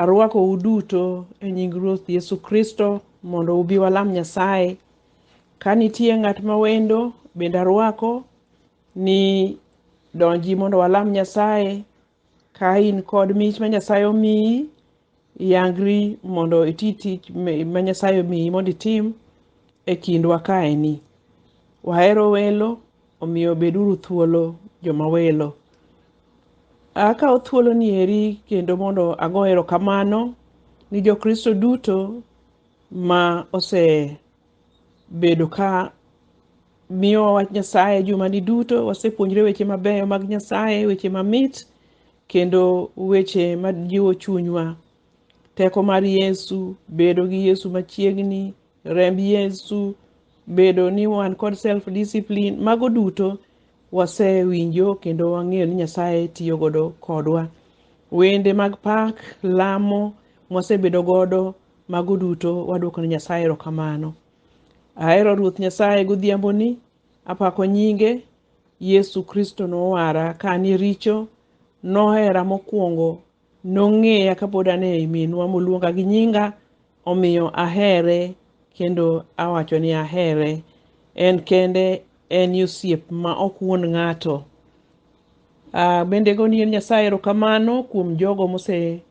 Arwakou duto e nying Ruoth Yesu Kristo mondo ubi walam Nyasaye. Ka nitie ng'at ma wendo, bende arwako ni donji mondo walam Nyasaye. Ka in kod mich ma Nyasaye omiyi, Yangri mondo iti tich me- ma Nyasaye omiyi mondo itim e kindwa kaeni. Wahero welo, omiyo beduru thuolo joma welo. Akawo thuoloni eri kendo mondo ago erokamano ni Jokristo duto ma ose bedo ka miyowa wach Nyasaye jumani duto. Wasepuonjre weche mabeyo mag Nyasaye, weche mamit kendo weche majiwo chunywa. Teko mar Yesu, bedo gi Yesu machiegni, remb Yesu, bedo ni wan kod self discipline, mago duto wasewinjo kendo wang'eyo ni Nyasaye tiyo godo kodwa. Wende mag pak, lamo mwasebedo godo Mago duto wadwoko ne Nyasaye erokamano. Ahero Ruoth Nyasaye godhiamboni, apako nyinge. Yesu Kristo nowara ka an e richo, nohera mokwongo, nong'eya kapod an e minwa moluonga gi nyinga, omiyo ahere kendo awacho ni ahere. En kende en e osiep ma ok wuond ng'ato. Ah, bende go ni en Nyasaye erokamano kuom jogo mose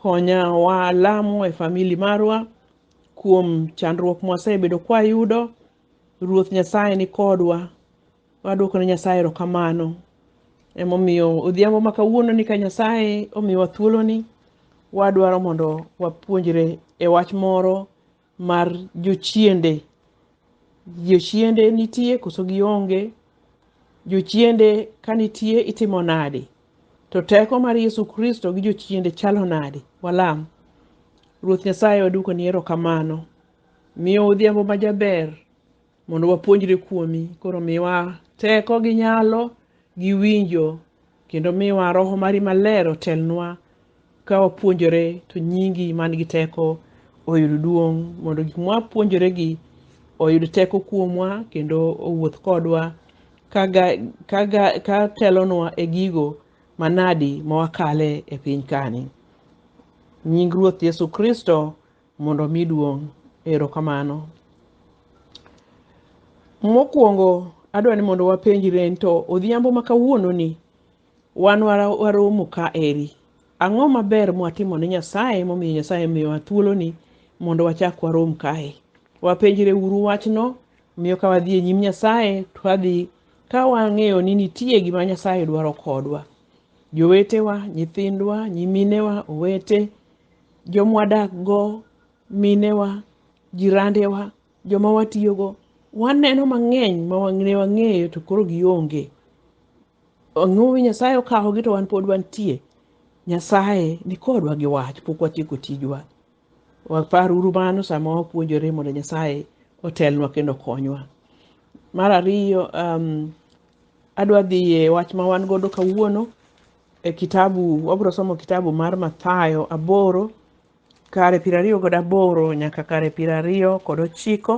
Konya walamo e famili marwa kuom chandruok mwasebedo kwayudo. Ruoth Nyasaye ni kodwa. Wadwoko ne Nyasaye erokamano. Emomiyo odhiambo ma kawuono ni ka Nyasaye omiyowa thuoloni, wadwaro mondo wapuonjre e wach moro mar jochiende. Jochiende nitie koso gionge? Jochiende ka nitie itimo nade? To teko mar Yesu Kristo gi jochiende chalo nade? Walam. Ruoth Nyasaye waduoko ni erokamano. Miyo odhiambo majaber mondo wapuonjre kuomi koro miwa teko gi nyalo gi winjo kendo miwa roho mari maler otelnwa ka wapuonjore to nyingi man gi teko oyud duong' mondo gik mwapuonjore gi oyud teko kuomwa kendo owuoth kodwa kaga, kaga, ka telonwa e gigo manadi ma wakale e piny kani nying ruoth yesu kristo mondo omi duong'. Erokamano. Mokwongo adwa ni mondo wapenjre ni to odhiambo ma kawuononi wan wara- waromo ka eri. Ang'o maber mwatimo ne Nyasaye momiyo Nyasaye miyowa thuoloni mondo wachak warom kae? Wapenjre uru wachno miyo ka wadhi e nyim Nyasaye to wadhi ka wang'eyo ni nitie gima Nyasaye dwaro kodwa. Jowetewa, nyithindwa, nyiminewa, owete, jomwadakgo, minewa, jirandewa, joma watiyogo, waneno mang'eny ma wang- ne wang'eyo to koro gionge. Ang'o ma Nyasaye okawogi to wan pod wantie? Nyasaye ni kodwa gi wach, pok watieko tijwa. Waparuru mano sama wapuonjore mondo Nyasaye otelnwa kendo okonywa. Mar ariyo, um, adwa dhi e wach ma wan godo kawuono e kitabu wabiro somo kitabu mar Mathayo aboro kare piero ariyo kod aboro nyaka kare piero ariyo kod ochiko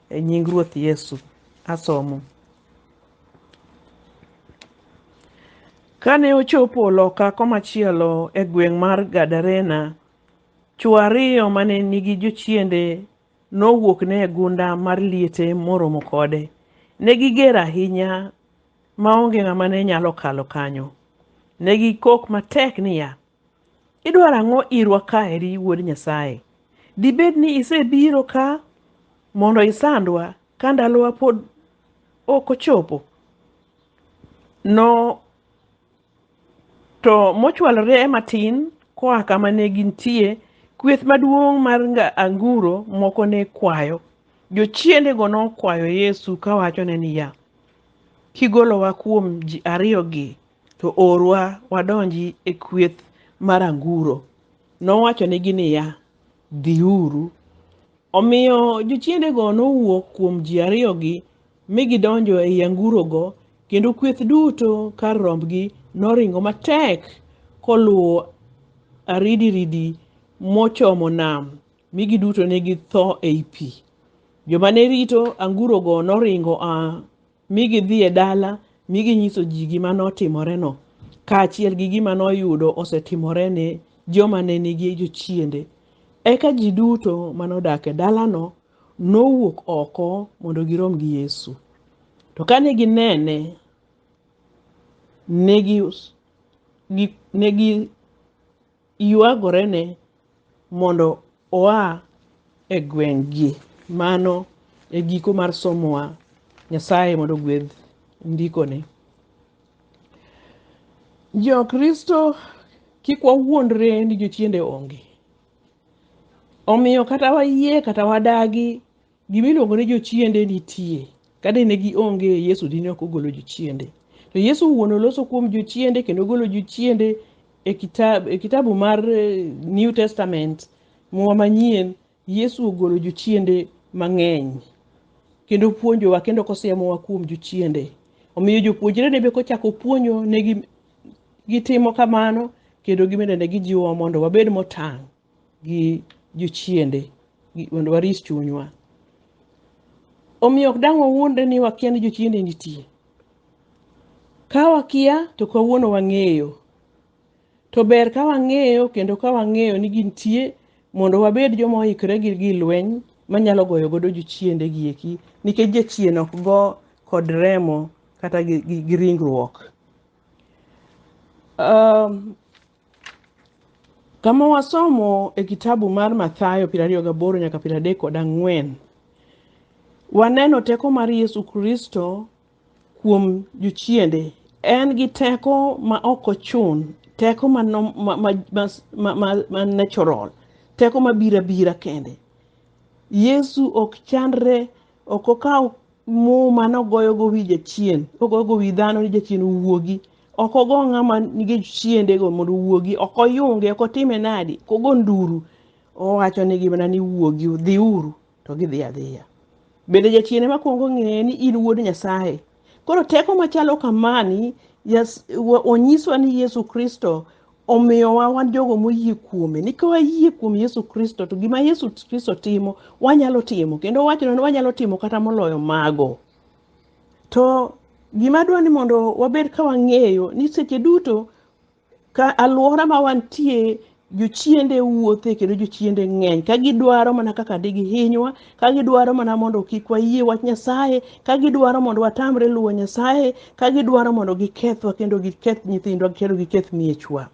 e nying Ruoth Yesu. Asomo. Kane ochopo loka komachielo e gweng' mar Gadarena, chwo ariyo mane nigi jochiende nowuokne e gunda mar liete moromo kode. Ne giger ahinya ma onge ng'ama ne nyalo kalo kanyo. Ne gikok matek niya, Idwaro ang'o irwa ka eri Wuod Nyasaye? Dibed ni isebiro ka mondo isandwa ka ndalowa pod ok ochopo? To mochwalore e matin koa kama ne gintie, kweth maduong' mar nga- anguro moko ne kwayo. Jochiendego nokwayo Yesu kawachone niya, Kigolowa kuom ji ariyogi, to orwa wadonji e kweth mar anguro. Nowachonegi niya, Dhiuru. Omiyo jochiendego nowuok kuom ji ariyogi mi gidonjo ei angurogo, kendo kweth duto kar rombgi noringo matek koluwo aridiridi mochomo nam, mi giduto ne githo ei pi. Joma ne rito angurogo noringo a mi gidhi e dala mi ginyiso ji gima notimoreno, kaachiel gi gima noyudo osetimore ne joma ne nigi jochiende. Eka ji duto manodak e dalano nowuok oko mondo girom gi Yesu. To kane ginene, ne gi gi- ne giywagorene mondo oa e gweng'gi. Mano e giko mar somowa. Nyasaye mondo ogwedh ndikone. Jokristo kik wawuondre ni jochiende onge. Omiyo kata wayie kata wadagi gima iluongo ni jochiende nitie. Kade ne gionge Yesu dine ok ogolo jochiende. To Yesu wuon oloso kuom jochiende kendo ogolo jochiende e kitabu, e kitabu mar eh, New Testament muma manyien Yesu ogolo jochiende mang'eny kendo puonjowa kendo kosiemowa kuom jochiende. Omiyo jopuonjre ne be kochako puonjo negi gitimo kamano kendo gimene ne gijiwowa mondo wabed motang' gi jochiende gi- mondo waris chunywa omiyo ok dang' wawuondre ni wakia ni jochiende nitie ka wakia to kawuono wang'eyo to ber ka wang'eyo kendo ka wang'eyo ni gintie mondo wabed joma oikre gi gi lweny manyalo goyo godo jochiende gieki nikech jachien ok go kod remo kata gi, gi, gi ringruok um, kama wasomo e kitabu mar mathayo piero ariyo gaboro nyaka piero adek kod ang'wen waneno teko mar yesu kristo kuom jochiende en gi teko ma ok ochun teko ma, nom- ma, ma, ma, ma, ma, ma natural teko ma bira bira kende yesu ok chandre ok okaw muma nogoyogo wi jachien kogoyogo wi dhano ni jachien owuogi ok ogo ng'ama nige chiendego mondo owuogi ok oyunge ok otime nadi kogo nduru owacho ni gimana ni wuogi dhiuru to gidhi adhiya bende jachien ema kwongo ng'eye ni in wuod nyasaye koro teko machalo kamani onyiswa ni yesu kristo omiyowa wan jogo moyie kuome ni ka wayie kuom yesu kristo to gima yesu kristo timo wanyalo timo kendo wachno ni wanyalo timo kata moloyo mago to gima dwa ni mondo wabed ka wang'eyo ni seche duto ka alwora ma wantie jochiende wuothe kendo jochiende ng'eny ka gidwaro mana kaka digihinywa ka gidwaro mana mondo kik wayie wach Nyasaye, ka gidwaro mondo watamre luwo Nyasaye, ka gidwaro mondo gikethwa kendo giketh nyithindwa kendo giketh miechwa.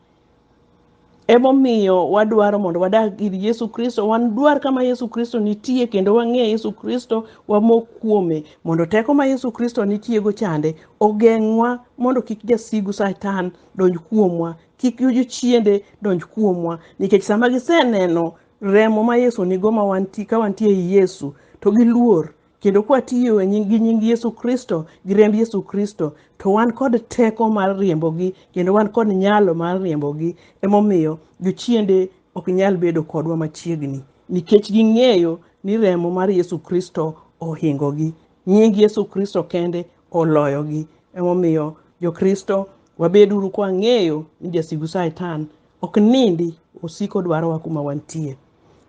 Emomiyo wadwaro mondo wadag ir Yesu Kristo, wadwar kama Yesu Kristo nitie kendo wang'e Yesu Kristo, wamok kuome mondo teko ma Yesu Kristo nitiego chande ogeng'wa mondo kik jasigu Satan donj kuomwa, kik jochiende donj kuomwa, nikech sama giseneno remo ma Yesu nigo ma wanti, ka wantie ei Yesu to gi luor kendo kwatiyo e nying, gi nying Yesu Kristo gi remb Yesu Kristo to wan kod teko mar riembogi kendo wan kod nyalo mar riembogi. Emomiyo jochiende ok nyal bedo kodwa machiegni nikech ging'eyo ni remo mar Yesu Kristo ohingogi. Nying Yesu Kristo kende oloyogi. Emomiyo Jokristo wabeduru kwang'eyo ni jasigu Satan ok nindi osiko dwarowa kuma wantie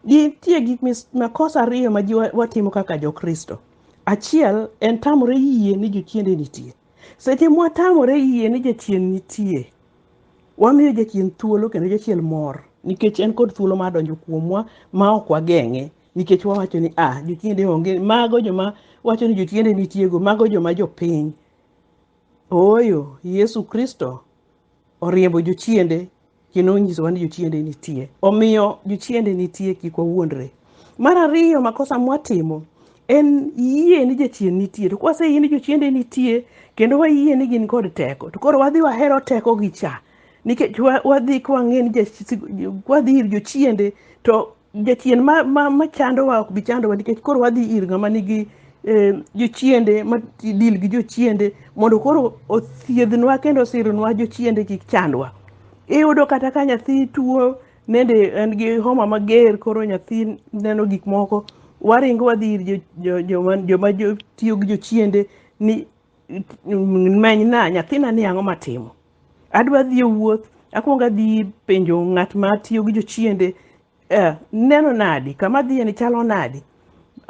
nitie gik makosa ariyo ma ji watimo kaka jokristo achiel en tamore yie ni jochiende nitie seche mwatamore yie ni jachien nitie wamiyo jachien thuolo kendo jachien mor nikech en kod thuolo mar donjo kuomwa ma ok wageng'e nikech wawacho ni a ah, jochiende onge mago joma wacho ni jochiende nitiego mago joma jopiny ooyo yesu kristo oriembo jochiende kendo onyisowa ni jochiende nitie. Omiyo jochiende nitie kik wawuondre. Mar ariyo makosa mwatimo en yie ni jachien nitie to kwaseyie ni jochiende nitie kendo wayie ni gin kod teko to koro wadhi wahero tekogi cha nikech wa- wadhi kwang'e ni jach- wadhi ir jochiende to jachien ma, ma, ma chandowa ok bi chandowa nikech koro wadhi ir ng'ama nigi eh, jochiende ma dil gi jochiende mondo koro othiedhnwa kendo osirnwa jochiende kik chandwa iyudo kata ka nyathi tuo nende en gi homa mager koro nyathi neno gik moko waringo wadhi ir jo- jo- joma joma jo- tiyo gi jochiende ni menyna nyathina ni ang'o matimo adwa dhi e wuoth akwongo adhi penjo ng'at ma tiyo gi jochiende eh, neno nadi kama dhiye ni chalo nadi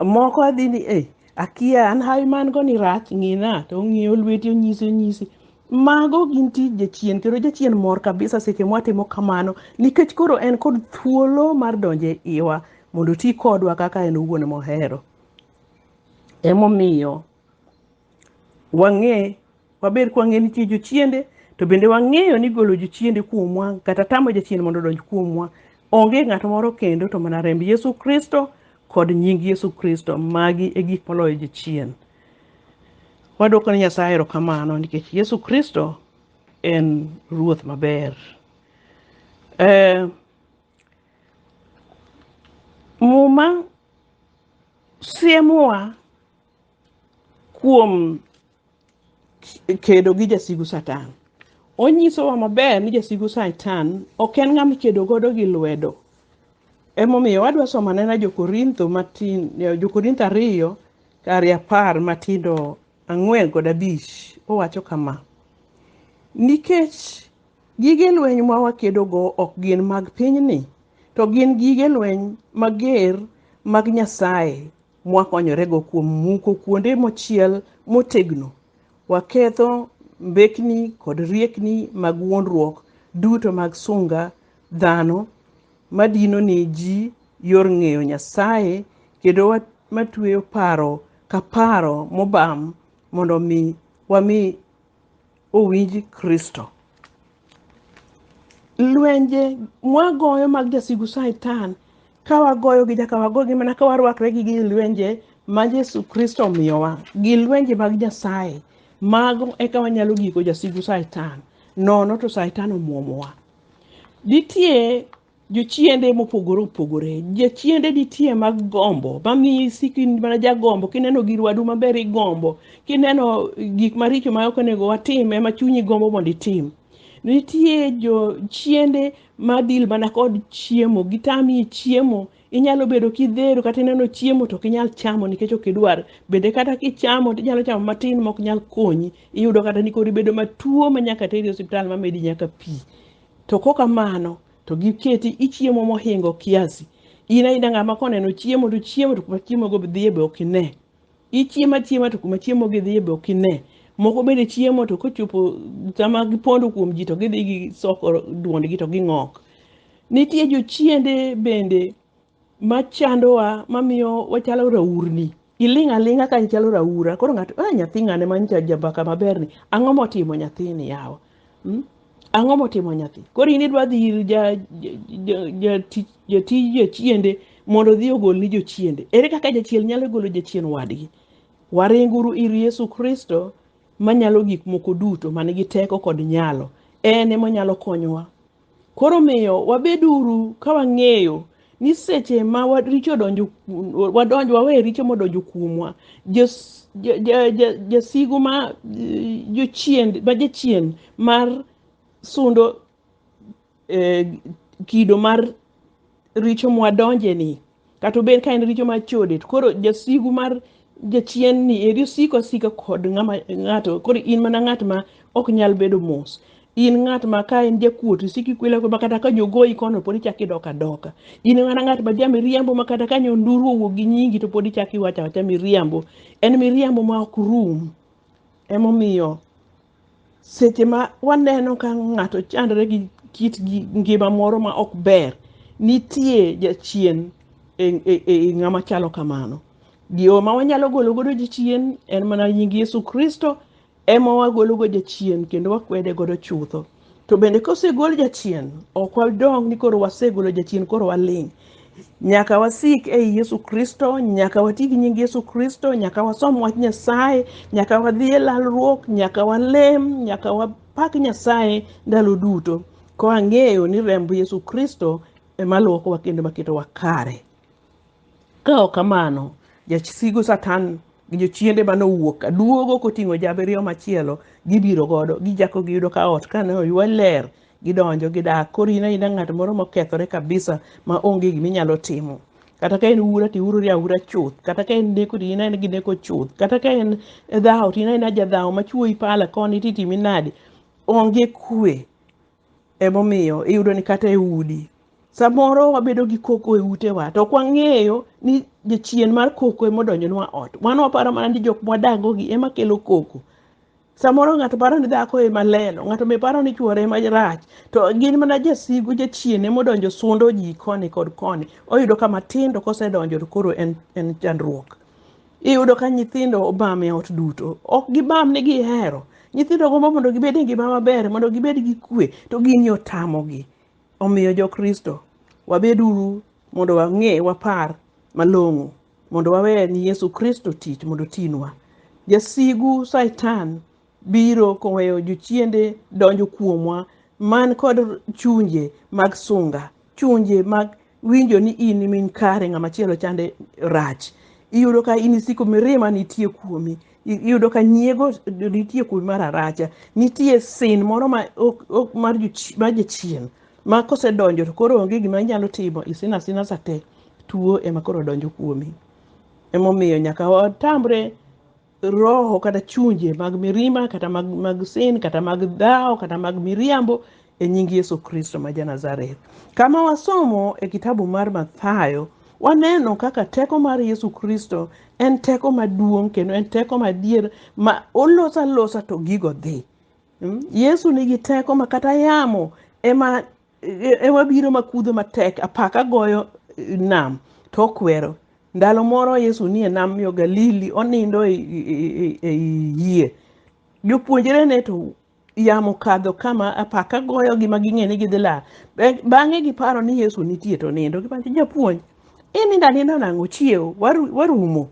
moko adhi ni eh, akia an hawi man go ni rach ng'ina to ong'iyo lweti onyisi onyisi mago gin tij jachien kendo jachien mor kabisa seche mwatimo kamano nikech koro en kod thuolo mar donjo e iwa mondo oti kodwa kaka en owuon mohero emomiyo wang'e Waber ka wang'eyo ni nitie jochiende, to bende wang'eyo ni golo jochiende kuomwa kata tamo jachien mondo odonj kuomwa onge ng'at moro kendo to mana remb Yesu Kristo kod nying Yesu Kristo. Magi e gik maloyo jochien. Wadwoko ne Nyasaye erokamano nikech Yesu Kristo en Ruoth maber. Eh, Muma siemowa kuom kedo gi jasigu Satan. Onyisowa maber ni jasigu Satan ok en ng'ama ikedo godo gi lwedo. Emomiyo wadwa somo anena Jokorintho matin, Jokorintho ariyo kari apar matindo ang'wen kod abich. Owacho kama, nikech gige lweny ma wakedogo ok gin mag pinyni, to gin gige lweny mager mag Nyasaye mwakonyorego kuom muko kuonde mochiel motegno. Waketho mbekni kod riekni mag wuondruok duto mag sunga dhano madino ne ji yor ng'eyo Nyasaye kendo wa- matweyo paro ka paro mobam mondo mi wami owinj Kristo. Lwenje mwagoyo mag jasigu Satan ka wagoyogi nyaka wagogi mana ka warwakre gi gi lwenje ma Yesu Kristo omiyowa gi lwenje mag Nyasaye mago eka wanyalo giko jasigu Satan nono to Satan omwomowa. Nitie jochiende mopogore opogore jochiende nitie mag gombo mamiyo isiko in mana jagombo kineno gir wadu maber igombo kineno gik maricho ma ok onego watim ema chunyi gombo mondo itim nitie jochiende madil mana kod chiemo gitami chiemo inyalo bedo kidhero kata ineno chiemo to ok inyal chamo nikech ok idwar bende kata kichamo to inyalo chamo matin ma ok nyal konyi iyudo kata ni koro ibedo matuo ma nyaka teri e osiptal mamedi nyaka pi To koka mano to giketi ichiemo mohingo kiasi. In aina ng'ama koneno chiemo to chiemo to kuma chiemo go dhiye be ok ine. Ichiemo achiema to kuma chiemo gi dhiye be ok ine. Moko bende chiemo to kochopo sama gipondo kuom ji to gidhi gisoko duondgi to ging'ok. Nitie jochiende bende machandowa mamiyo wachalo raurni iling' aling'a ka ichalo raura koro ng'ato ah, nyathi ng'ane manyicha jambaka maberni ang'o motimo nyathini yawa mm? ang'o motimo nyathi koro in idwa dhi ir ja- ja- ja- jati- jatij jachiende mondo odhi ogolni jochiende ere kaka jachiel nyalo golo jachien wadgi waringuru ir yesu kristo manyalo gik moko duto man gi teko kod nyalo en emonyalo konyowa Koro miyo wabeduru ka wang'eyo ni seche ma richo donjo wadonj wawe richo modonjo kuomwa jasigu ma jochien ma jachien mar sundo e, kido mar richo mwadonjeni Kata obed ka en richo mar chode, to koro jasigu mar jachien ni eri osiko asika kod ng'ama ng'ato koro in mana ng'at ma ok nyal bedo mos in ng'at ma ka en jakuot isiki kwela ma kata ka jogoyi kono pod ichak idok adoka in mana ng'at ma ja miriambo ma kata ka nyonduru owuok gi nyingi to pod ichak iwacho awacha miriambo en miriambo ma ok rum emomiyo Seche ma waneno ka ng'ato chandore gi kit ngima moro ma ok ber, nitie jachien e, e, e ng'ama chalo kamano. Yo ma wanyalo golo godo jachien en mana nying Yesu Kristo ema wagolo go jachien kendo wakwede godo chutho. To bende kosegol jachien, ok wadong' ni koro wasegolo jachien koro waling'. Nyaka wasik ei Yesu Kristo, nyaka wati gi nying Yesu Kristo, nyaka wasom wach Nyasaye, nyaka wadhi e lalruok, nyaka walem, nyaka wapak Nyasaye ndalo duto. Kwa ng'eyo ni remb Yesu Kristo ema luokowa kendo maketowa kare. Ka ok kamano, jasigu Satan gi jochiende mane owuok ka duogo koting'o jabiriyo machielo gibiro godo gichako giyudo ka ot kane oywe ler gidonjo gidak koro in aina ng'at moro mokethore kabisa ma onge gima inyalo timo kata ka en ura to iurori aura chuth kata ka en neko to in aina gi neko chuth kata ka en dhawo to in aina jadhawo ma chuoyi pala koni to itimi nadi onge kwe Emomiyo iyudo ni kata e udi samoro wabedo gi koko e utewa to ok wang'eyo ni jachien mar koko ema odonjonwa ot. Wan waparo mana ni jok mwadagogi ema kelo koko. Samoro ng'ato paro ni dhako ema lelo, ng'ato be paro ni chuore ema rach, to gin mana jasigu jachien ema odonjo sundo ji koni kod koni. Oyudo ka matindo kosedonjo to koro en en chandruok. Iyudo ka nyithindo obam e ot duto, ok gibam ni gihero. Nyithindo gombo mondo gibed e ngima maber, mondo gibed gi kwe, to gini otamogi. Omiyo Jokristo, wabeduru mondo wang'e, wapar malong'o, mondo wawe ni Yesu Kristo tich mondo otinwa. Jasigu Satan biro koweyo jochiende donjo kuomwa man kod chunje mag sunga, chunje mag winjo ni in e min kare ng'ama chielo chande rach iyudo ka in isiko mirima nitie kuomi I- iyudo ka nyiego nitie kuomi mar aracha nitie sin moro ma ok- ok- mar jochi- mar jachien ma kosedonjo to koro onge gima inyalo timo isin asina sate tuo ema koro donjo kuomi emomiyo nyaka watamre roho kata chunje mag mirima kata mag, mag sin kata mag dhawo kata mag miriambo e nying yesu kristo ma janazareth kama wasomo e kitabu mar mathayo waneno kaka teko mar yesu kristo en teko maduong' kendo en teko madier ma olosa losa to gigo dhi Mm, yesu nigi teko ma kata yamo ema Ema biro makudho matek apaka goyo nam to okwero. Ndalo moro Yesu nie nam yo Galili onindo e yie. Jopuonjre ne to yamo kadho kama apaka goyo gi ma ging'e ni gidhi lal. Bang'e giparo ni Yesu nitie to nindo. Gipenjo japuonj, inindo aninda nang'o chiew warumo.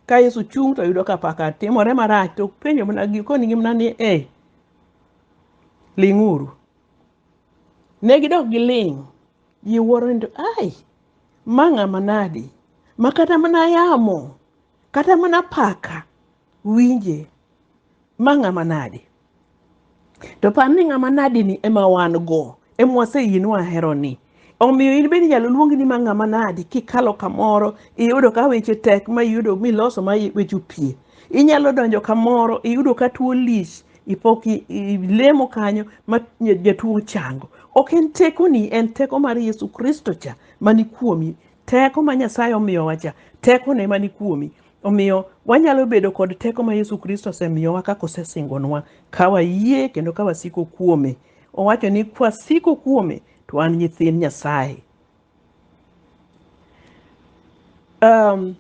Ka Yesu chung' to yudo ka apaka timore marach to penjo mana konigi mana ni e ling'uru. Ne gidok giling'. Ji wuoro ni to ai, ma ng'ama nadi ma kata mana yamo kata mana paka winje ma ng'ama nadi. To par ni ng'ama nadini ema wan go, ema waseyie ni waheroni. omiyo in bende inyalo luongi ni ma ng'ama nadi kikalo kamoro iyudo ka weche tek ma iyudo miloso ma weche opie inyalo donjo kamoro iyudo ka tuo lich ipok i- i- ilemo kanyo ma nya- jatuo chango ok en tekoni en teko mar yesu kristo cha mani kuomi teko ma nyasaye omiyowa cha tekone mani kuomi omiyo wanyalo bedo kod teko ma yesu kristo osemiyowa kaka osesingonwa ka wayie kendo ka wasiko kuome owacho ni kwasiko kuome to wan nyithind Nyasaye. Um,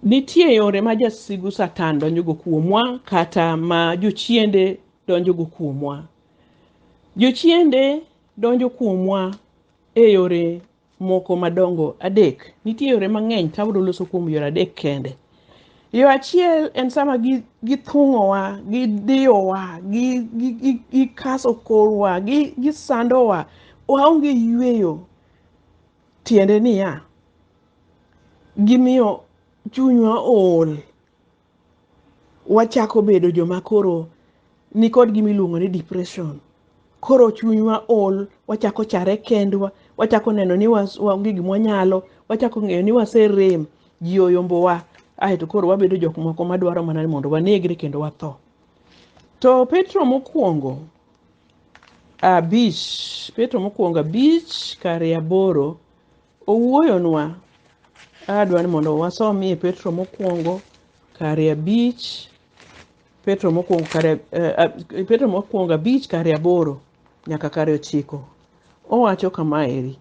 nitie yore ma jasigu Satan donjogo kuomwa kata ma jochiende donjogo kuomwa. Jochiende donjo kuomwa e yore moko madongo adek. Nitie yore mang'eny ka abiro loso kuom yore adek kende. Yo achiel en sama gi- githung'owa, gidiyowa, gi- gi- gi- gikaso korwa, gi- gisandowa, waonge yueyo. Tiende niya, gimiyo chunywa ool. wachako bedo joma koro nikod gima iluongo ni depression koro chunywa ol wachako chare kendwa wachako neno ni was- waonge gima wanyalo wachako ng'eyo ni waserem ji oyombowa aeto koro wabedo jok moko madwaro mana ni mondo wanegre kendo watho to petro mokwongo abich petro mokwongo abich kare aboro Owuoyonwa, adwa ni mondo wasomie Petro mokwongo kare abich, Petro mokwongo kare, eh, ab- Petro mokwongo abich kare aboro nyaka kare ochiko. Owacho kama eri.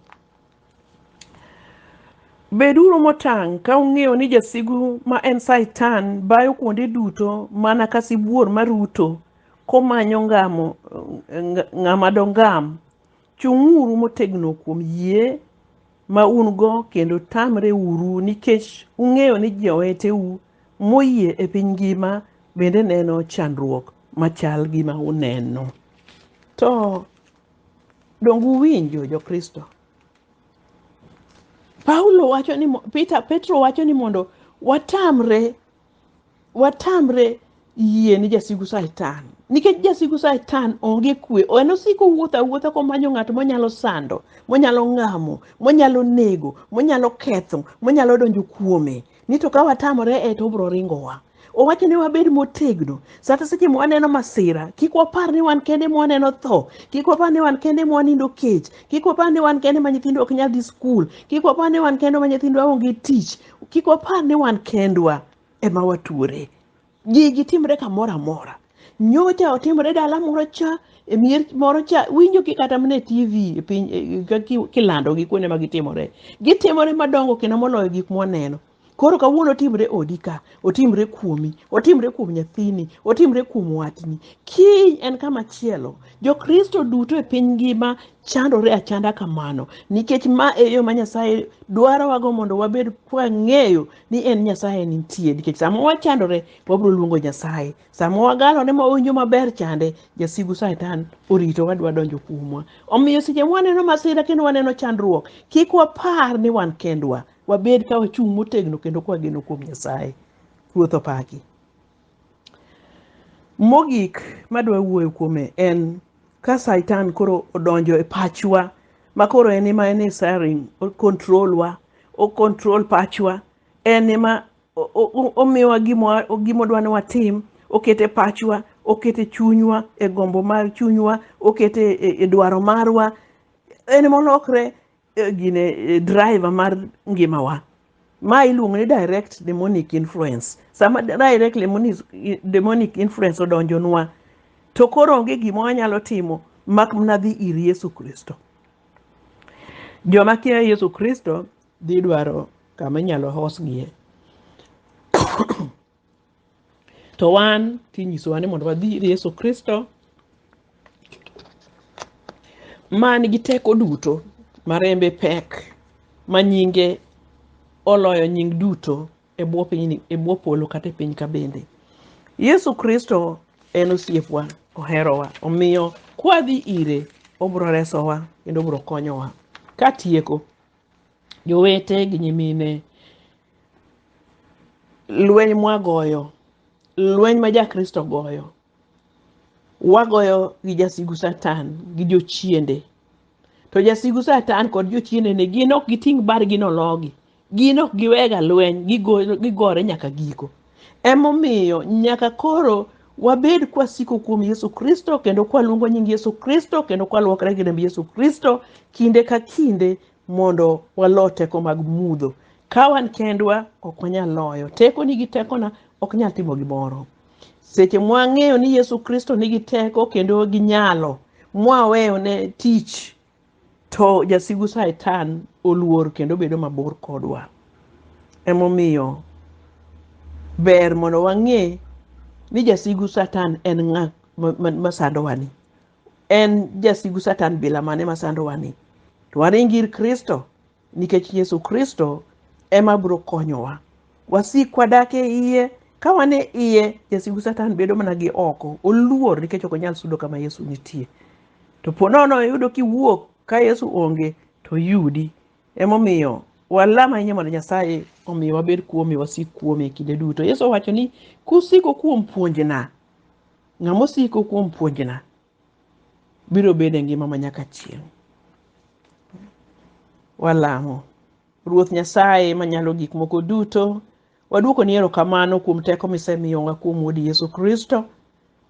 Beduru motang' ka ung'eyo ni jasigu ma en Satan bayo kuonde duto mana ka sibuor maruto komanyo ngamo, ng- ng'ama dongam. Chung'uru motegno kuom yie ma un-go kendo tamre uru nikech ung'eyo ni joweteu moyie e piny ngima bende neno chandruok machal gi ma uneno. To donge uwinjo Jokristo? Paulo wacho ni mo- Peter, Petro wacho ni mondo watamre watamre yie ni jasigu saitan nikech jasigu saitan onge kwe en osiko wuotho awuotha komanyo ng'at monyalo sando monyalo ngamo monyalo nego monyalo ketho monyalo donjo kuome ni to ka watamore e to obro ringowa owacho ni wabed motegno sata seche ma waneno masira kik wapar ni wan kende ma waneno tho kik wapar ni wan kende ma wanindo kech kik wapar ni wan kende ma nyithindo ok nyal dhi skul kik wapar ni wan kende ma nyithindwa onge tich Kik wapar ni wan kendwa ema watuore. Gigi timre kamoro amora. Nyocha otimre dala moro cha, e mier moro cha, winjo ki kata mana e TV e piny e- ka- ki- kilando gi kuonde ma gitimore. Gitimore madongo kendo moloyo gik mwaneno. Koro kawuono otimre odi ka, otimre kuomi, otimre kuom nyathini, otimre kuom watni. Kiny en kama chielo. Jokristo duto e piny ngima chandore achanda kamano nikech ma e yo ma Nyasaye dwarowago mondo wabed kwang'eyo ni en Nyasaye nitie nikech sama wachandore wabiro luongo Nyasaye sama wagalone ma wawinjo maber chande jasigu Satan orito wadwa donjo kuomwa omiyo seche mwaneno masira kendo waneno chandruok kik wapar ni wan kendwa wabed ka wachung' motegno kendo kwageno kuom Nyasaye ruoth opaki Mogik madwa wuoyo kuome en ka Satan koro odonjo e pachwa ma koro en ema en e siren, o control wa, o control pachwa, en ema o- o- o- omiyowa gima gima odwa ni watim, okete pachwa, okete chunywa, e gombo mar chunywa, okete e, e dwaro marwa, en ema olokre eh, gine eh, driver mar ngimawa ma iluongo ni direct demonic influence sama direct demonic, demonic influence odonjonwa to koro onge gima wanyalo timo mak mana dhi ir yesu kristo joma kia yesu kristo dhi dwaro kama inyalo hosgie to wan tinyisowa ni mondo wadhi ir Yesu Kristo man gi teko duto ma rembe pek ma nyinge oloyo nying duto e bwo piny e bwo polo kata e piny ka bende Yesu Kristo en osiepwa oherowa omiyo kwadhi ire obro resowa kendo obro konyowa katieko jowete gi nyimine lweny mwagoyo lweny ma jakristo goyo wagoyo gi jasigu satan gi jochiende to jasigu satan kod jochiende ne gin ok giting' bargi nologi gin ok giwega lweny gigo- gigore nyaka giko Emomiyo nyaka koro wabed kwasiko kuom Yesu Kristo kendo kwaluongo nying Yesu Kristo kendo kwalwokre gi remb Yesu Kristo kinde ka kinde mondo walo teko mag mudho. Ka wan kendwa ok wanyal loyo. Tekoni gi tekona ok nyal timo gimoro. Seche mwang'eyo ni Yesu Kristo nigi teko kendo gi nyalo, mwaweyo ne tich To jasigu Satan oluor kendo bedo mabor kodwa. Emomiyo ber mondo wang'e ni jasigu Satan en ng'a ma- ma- masandowani. En jasigu Satan bila mane masandowani? To waring ir Kristo nikech Yesu Kristo ema biro konyowa. Wasik wadak e iye, ka wan e iye, jasigu Satan bedo mana gi oko, oluor nikech ok onyal sudo kama Yesu nitie. To po nono iyudo kiwuok ka Yesu onge, to oyudi. Emomiyo walam ahinya mondo Nyasaye omi wabed kuome, wasik kuome e kinde duto. Yesu owacho ni, kusiko kuom puonjna, ng'ama osiko kuom puonjna, biro bedo e ngima ma nyaka chieng'. Walamo. Ruoth Nyasaye manyalo gik moko duto, waduokoni erokamano kuom teko misemiyowa kuom Wuodi Yesu Kristo.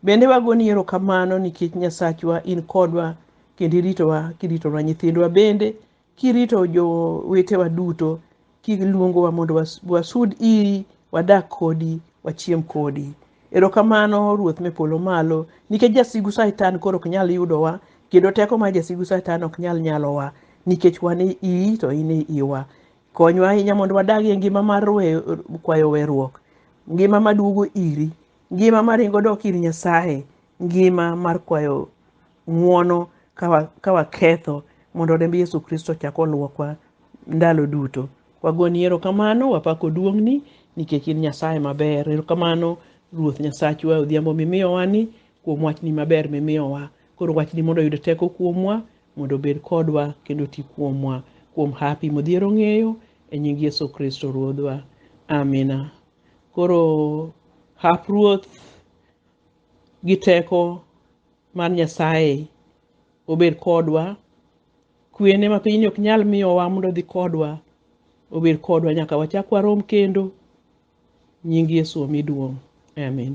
Bende wagoni erokamano nikech Nyasachwa in kodwa kendo iritowa kiritonwa nyithindwa bende Kirito jowetewa duto kiluongowa mondo was- wasud iri, wadak kodi, wachiem kodi. Erokamano Ruoth me polo malo, nikech jasigu Satan koro ok nyal yudowa, kendo teko mar jasigu Satan ok nyal nyalowa, nikech wan e iyi to in e iwa. Konywa ahinya mondo wadag e ngima mar we- kwayo weruok, ngima maduogo iri, ngima maringo dok ir Nyasaye, ngima mar kwayo ng'wono ka waketho mondo remb Yesu Kristo chak olwokwa ndalo duto. Wagoni erokamano, wapako duong'ni nikech in Nyasaye maber. Erokamano Ruoth Nyasachwa odhiambo mimiyowani kuom wachni maber mimiyowa. Koro wachni mondo oyud teko kuomwa mondo obed kodwa kendo ti kuomwa kuom hapi modhiero ong'eyo e nying Yesu Kristo Ruodhwa. Amina. Koro hap Ruoth gi teko Mad Nyasaye obed kodwa. Kwene ma pinyni ok nyal miyowa mondo odhi kodwa, obed kodwa nyaka wachak warom kendo. Nying Yesu omi duong'. Amin.